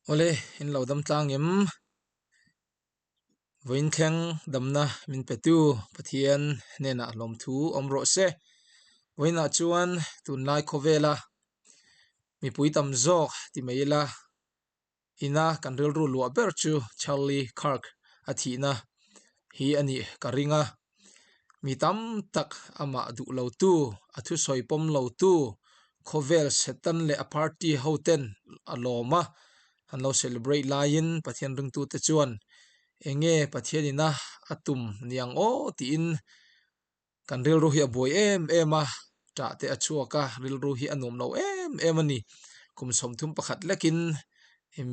Awle in lo dam tlang em? Vawiin thleng damna min petu Pathian hnenah lawmthu awm rawh se. Vawiinah chuan tunlai khawvela mipui tam zawk ti mai ila ina kan rilru luah ber chu Charlie Kirk a thihna hi a nih ka ring a. mi tam tak amah duh lo tu a thusawi pawm lo tu khawvel setan leh a party ho ten a lawm a an lo celebrate laiin pathian ringtu te chuan eng nge pathianin a a tum niang aw tiin kan rilru hi a buai em em a. tah te a chhuak a rilru hi a nuam lo em em a ni kum sawmthum pakhat lekin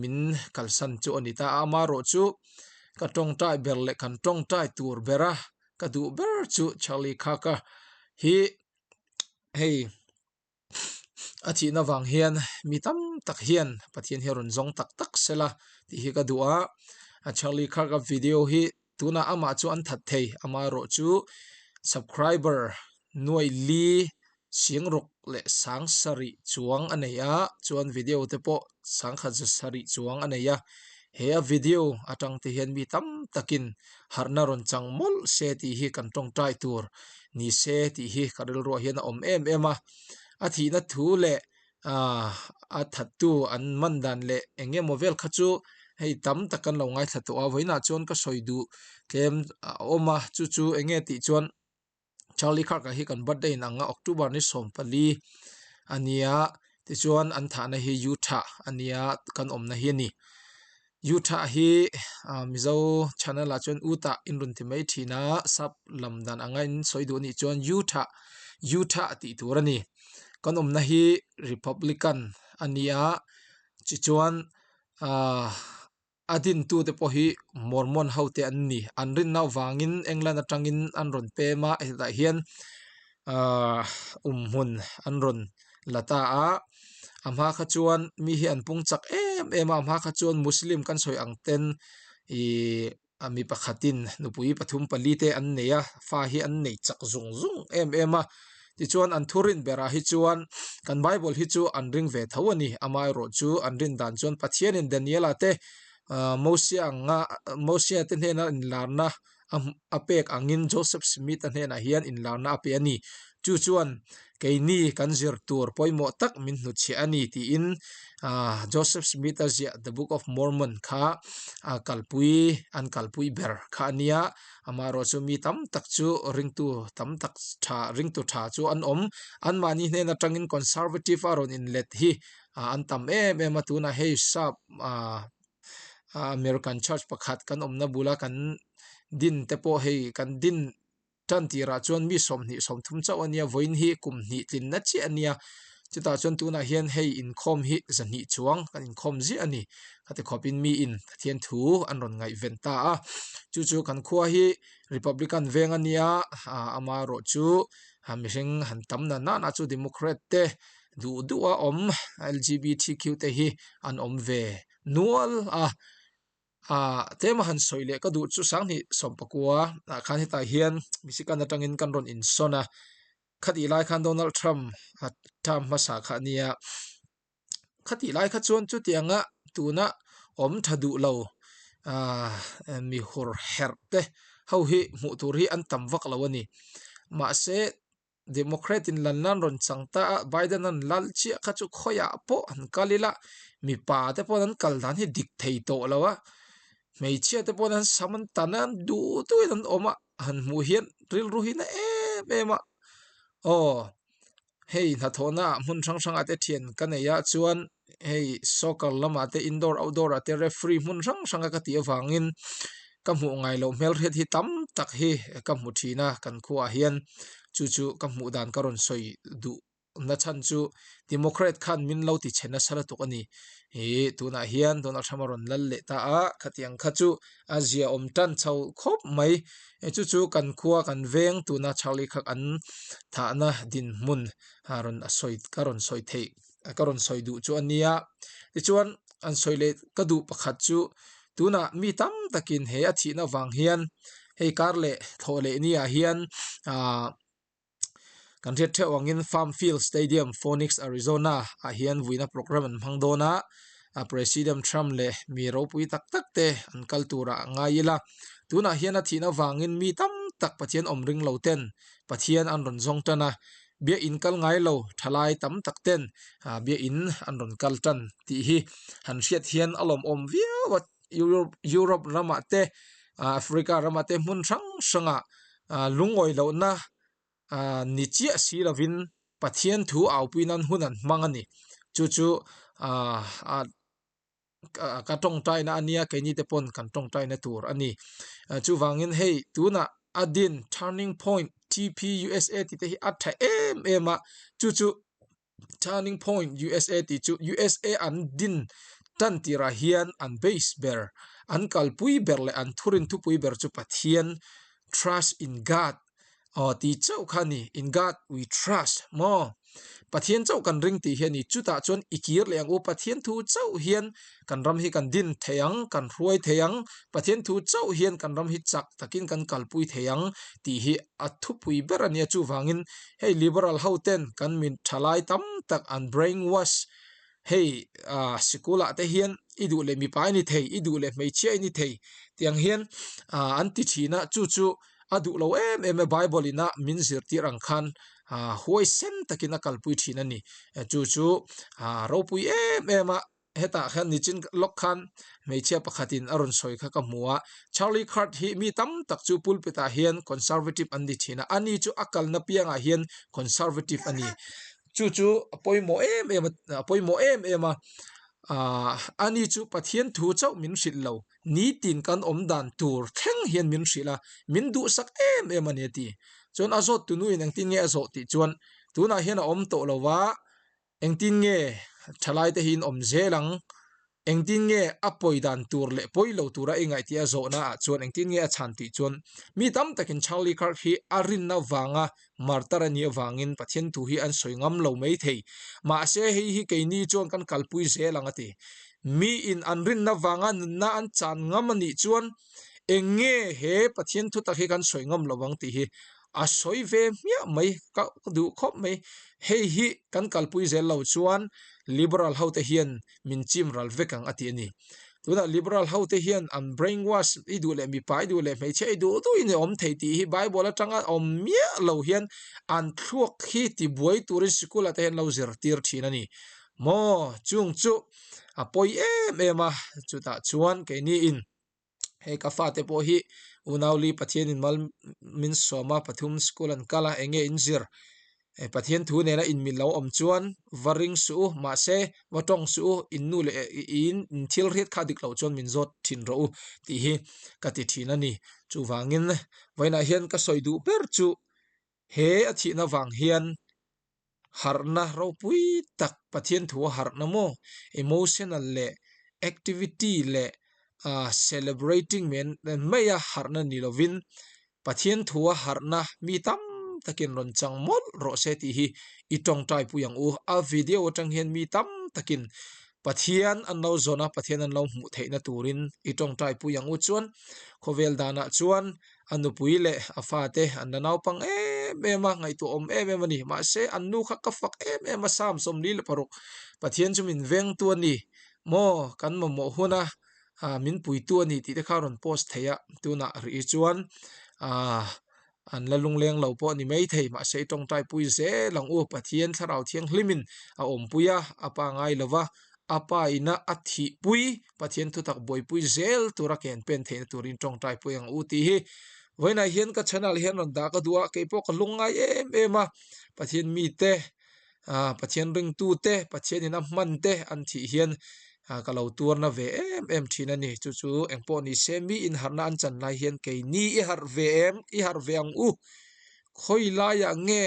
min kalsan chu a ni ta a amarawh chu ka tawngtai ber leh kan tawngtai tur bera ka duh ber chu charlie kaka hi hei a thihna vang hian mi tam tak hian pathian hi a rawn zawng tak tak sela tih hi ka duh a charlie kaka video hi. Tunah amah chu an that thei, ama erawh chu subcriber Nuai Li Siangruk leh Sang Sarih chuang a nei a, chuan video te pawh Sangkhat Za Sarih chuang a nei a, he a video atangte hian mi tam takin harhna rawn chang mawlh se tih hi kan tawngtai tur ni se tih hi ka rilruah hian a awm em em a, a thihna thu leh a thattu an man dan leh eng nge maw vel kha chu hei tam tak kan lo ngaithla tawh a vawiinah chuan ka sawi duh tlem a awm a chu chu eng nge tih chuan charlie khark a hi kan birthday in ang a october ni sawm pali a nia tichuan an thah na hi U tha a nia kan awmna hi a ni. U tha hi Mizo channel ah chuan U tah in rawn ti mai thin a, sub lam dan anga in sawi duh anih chuan U tha U tha tih tur a ni. Kan awmna hi Republican a ni a, chi chuan aaa a din tu te pawh hi Mormon ho te an ni. An rinna vangin England atangin an rawn pem a, hetah hian-- aaa awm hmun an rawn la ta a a hma kha chuan mi hi an pung chak em em a a hma kha chuan muslim kan sawi ang ten ihh a mi pakhatin nupui pathum pali te an nei a fa hi an nei chak zung zung em em a tichuan an thu rin berah hi chuan kan bible hi chu an ring ve tho a ni amaherawh chu an rin dan chuan pathianin daniela te aaa mosiah anga mosiah te hnena inlarna-- a pek angin Joseph Smith-a hnenah hian inlarna a pe a ni. Chu chuan, Keini kan zir tur pawimawh tak min hnutchhiah a ni, tiin Joseph Smith-a ziah The Book of Mormon kha a kalpui, an kalpui ber kha a nia. Amaherawh chu mi tam tak chu ringtu tam tak tha, ringtu tha chu an awm. Anmahni hnen atangin Conservative-a rawn inlet hi an tam em em a, tunah hei sap, ah American church pakhat kan awmna bula kan din te pawh hei kan din tan tirah chuan mi sawmhnih sawmthum chauh a nia vawiin hi kum hnih tlinna chiah a nia chutah chuan tunah hian hei inkhawm hi zahnih chuang kan inkhawm ziah a ni ka ti khawp in miin Pathian thu an rawn ngaihven ta a chu chu kan khua hi Republican veng a nia ah amaherawhchu mihring han tam na nanah chu Democrat te. duh duh a awm lgbtq te hi an awm ve nual a ah tlem a han sawi leh ka duh chu sanghnih sawm pakua ah khan hetah hian biasi khan atangin kan rawn insawn a khatiah lai khan Donald Trump ah term hmasa kha nia khati lai kha chuan chutiang a tuna awm tha duhlo ah mihur herh te ho hi hmuh tur hi an tam vaklo a ni mahse-- Democrat in lanna an rawn chang ta a, Biden-a an lal chiah kha chu khawiah pawh an kal ila, mipa te pawh an kal dan hi dik thei tawh lo a, hmeichhia te pawh an sam an tan a, an duh duahin an awm a, a han hmuh hian rilru hi na em em a, aw hei hnathawhna hmun hrang hrang ah te thian ka nei a chuan hei soccer lamah te indoor outdoor ah te referee hmun hrang hrang a ka tih avangin ka hmuh ngaih loh hmel hriat hi tam tak hi ka hmu thin a kan khua ah hian chu chu ka hmuh dan ka rawn sawi duh nachhan chu democrat khan min lo ti chhe nasa lutuk a ni ihh tunah hian donald trump a rawn lal leh ta a khatiang kha chu a ziaawm tan chho khawp mai chu chu kan khua kan veng tuna chak leh khat an thahna dinhmun a rawn sawi ka rawn sawi theih. ka rawn sawi duh chu a nia tichuan an sawi leh ka duh pakhat chu tunah mi tam takin he a thihna vang hian hei kar leh thlawh leh ni ah hian aaa kan hriat theuh ang in farm field stadium phoenix Arizona ah hian vuihna programme an hmang dawn a a president Trump leh mi ropui tak tak te an kal tur ah a ngai ila tunah hian a thihna vang in mi tam tak Pathian awm ring lo ten Pathian an rawn zawng tan a. Biain kal ngai lo thalai tam tak ten biain an rawn kal tan tih hi han hriat hian a lawmawm viau a, Europe ramah te Africa ramah te hmun hrang hrangah lungawi lohna ni chiah si lovin Pathian thu aupuinan hun an hmang a ni, chu chu a. ka tawngtai na ania keini te pawn kan tawngtai na tur a ni chuvangin hei tunah a din turning point TP usa tih te hi a tha em em a chu chu turning point usa tih chu usa an din tan tirah hian an base ber an kalpui ber leh an thurin thupui ber chu pathian trust in god . aw tih chauh kha ani in God we trust maw Pathian chauh kan ring tih hi ani chutah chuan i kir leh ang u Pathian thu chauh hian kan ram hi kan din thei ang kan hruai thei ang Pathian thu chauh hian kan ram hi chak takin kan kalpui thei ang tih hi a thupui ber ania chuvangin hei liberal hoten kan min tha lai tam tak an brain wash hei ah sikul ah te hian i duh leh mipa i ni thei i duh leh hmeichhia i ni thei tiang hian ah an ti thin a chu chu a duh lo em em e bible in a min zirtir ang khan ah huai sem takin a kalpui thin a ni a chu chu ah ropui em em a hetah hian nichin lawk khan hmeichhia pakhat in a rawn sawi kha ka hmu a charli khat hi mi tam tak chu pulpit ah hian conservative an ni thin a ani chu a kalna piang ah hian conservative a ni. chu chu a pawimawh em em a a pawimawh em em a aaa ani chu pathian thu chauh min hrilh lo nitin kan awm dan tur thleng hian min hrilh a min duhsak em em a ni a ti chuan a zawt tunu in engtin nge a zawh tih chuan tunah hian a awm tawh lova engtin nge tha laite hi in awm zel ang. Engtin nge a pawi dan tur leh pawi lo tura i ngaihtia a zawhna ah chuan engtin nge a chhan tih chuan? Mi tam takin Charlie Kirk hi a rinna vanga martar a nih avangin Pathian thu hi an sawi ngam lo mai thei. Mahse, hei hi keini chuan kan kalpui zel ang a ti. Miin an rinna vanga nunna an chan ngam a nih chuan eng nge he Pathian thu tak hi kan sawi ngam lo ang tih hi a sawi ve hmiah mai, ka duh khawp mai. Hei hi kan kalpui zel lo chuan Liberal hote hian min chim ral vek ang a tih a ni tunah liberal hote hian an brain wash i duh leh mipa i duh leh hmeichhe i duh duh in a awm thei tih hi bible atanga awm miah lo hian an thluak hi ti buai turin sikul ah te hian lo zir tir thin a ni maw chung chu a pawi em em a chutah chuan keini in. hei ka fa te pawh hi unauli pathian inmal min sawma pathum school an kal a eng nge in zir e pathian thu nena in min lo awm chuan va ring suh u mahse va tawng suh u in nu leh in in thil riat kha dik loh chuan min zawt thin rawh u tih hi ka ti thin a ni chuvangin vawiinah hian ka sawi duh ber chu. He a thihna vang hian harhna ropui tak Pathian thu a harhna maw, emotional leh activity leh celebrating men mai a harhna ni lovin Pathian thu a harhna mi tam takin rawn chang mawlh rawh se tih hi i tawngtaipui ang u. A video atang hian mi tam takin Pathian an lo zawn a, Pathian an lo hmuh theihna turin i tawngtaipui ang u chuan khawvel danah chuan a nupui leh a fa te an la naupang em em a ngaihtuah awm em em a ni mahse an nu kha ka fak em em a sam sawmli leh paruk Pathian chu min veng tu a ni maw kan mamawh hun a ah min pui tu a ni tih te kha a rawn post thei a tunah rih hi chuan ah an la lungleng lo pawh a ni maithei mahse i tawngtai pui zel ang u Pathian thlarau thianghlim in a awmpui a a pa ngai lova a pa ina a thihpui. Pathian thutak buaipui zel tura ken pen theihna turin tawngtai pawh eng u tih hi vawiinah hian ka channel ah hian rawn dah ka duh a keipawh ka hlawng ngai em em a Pathian mite ah Pathian ringtute Pathianin a hmante an tih hian ka lo tuarna ve em em thin a ni chu chu eng pawh ni se mi inharhna an chan lai hian keini i harh ve em i harh ve ang u khawilaia nge.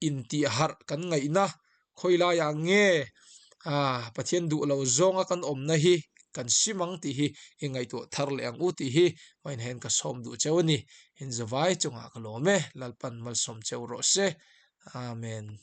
intih harh kan ngaih na khawi lai ah nge aaa Pathian duh lo zawnga kan awmna hi kan hrim ang tih hi i ngaihtuah thar leh ang u tih hi hmainaiin ka sawm duh cheu a ni. Inzawvai chungah ka lawm e, Lalpan malsawm cheu rawh se. Amen.